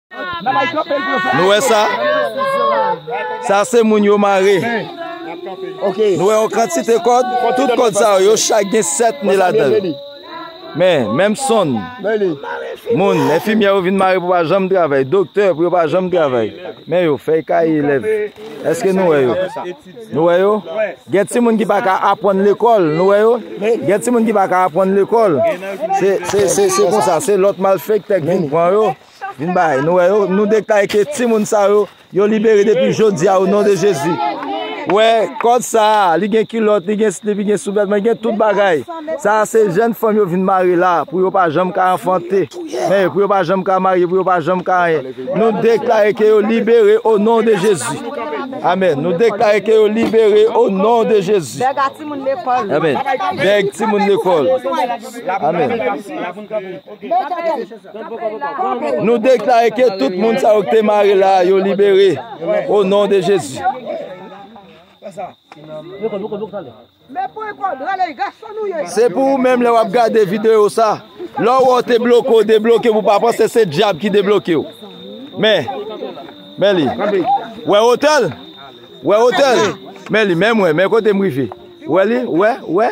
Nou wè sa? Sa se moun yo mare. Nou wè yon kantite kòd? Tout kòd sa yo, yo chak gen 7 ni la dèl. Men, menm son. Moun, enfimye yo vin mare pou pa janm travèy. Doktè pou yo pa janm travèy. Men yo, fèy kay elèv. Eske nou wè yo? Nou wè yo? Gen ti moun ki pa ka apwann lekòl. Nou wè yo? Gen ti moun ki pa ka apwann lekòl. Se, se, se, se kon sa. Se lòt malfèktè ki vin pran yo. Vin bay, nou wè yo, nou deklare ke ti moun sa yo, yo libere depi jodi a o non de Jezi. Wè, kòd sa a, li gen kilòt, li gen slip, li gen souvètman, li gen tout bagay. Sa a se jèn fanm yo vin mare la, pou yo pa janm ka anfante. Men, pou yo pa janm ka marye, pou yo pa janm ka anyen. Nou deklare ke yo libere o non de Jezi. Amen. Nou deklare ke yo libere o non de Jezi. Amen. Bèg ti moun lekòl. Amen. Nou deklare ke tout moun sa yo ki te mare la yo libere o non de Jezi. Se pou ou menm lè wap gade video sa, lè ou wè ou te bloke ou debloke pou pa panse se dyab ki debloke ou. Men, men li. Ou wè otè l? Ou wè otè l? Men li, men mwen, men kote m rive. Ou wè li? Ou wè? Ou wè?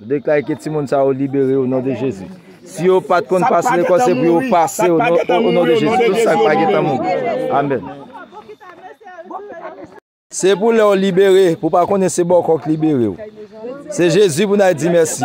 Nou deklare ke timoun sa yo libere o non de Jezi. Si yo pat konn pase lekòl se pou yo pase o non de Jezi. Tout sa k pa gentan mouri. Amen. Se pou lè w libere pou pa konnen se bòkò k libere w. Se Jezi pou n al di mèsi.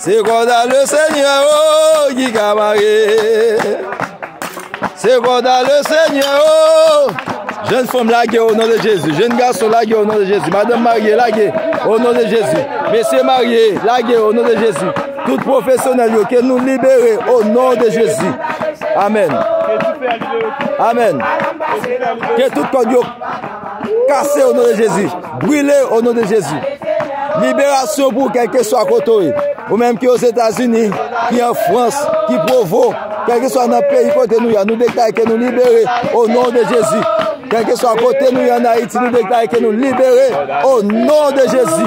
Se konsa le senyè o ki ka mare Se konsa le senyè o Jèn fanm lage o non de Jezi Jèn gason lage o non de Jezi Madanm marye lage o non de Jezi Mesye marye lage o non de Jezi Tout profesyonèl yo ke nou libere o non de Jezi Amen Amen Ke tout kòd yo Kase o non de Jezi. Brile o non de Jezi. Liberasyon pou kèlke swa kote ou ye. Ou menm ki o Zetazini, ki an Frans, ki provo, kèlke swa nan peyi kote nou ya. Nou deklare ke nou libere o non de Jezi. Kèlke swa kote nou ya nan Ayiti, nou deklare ke nou libere o non de Jezi.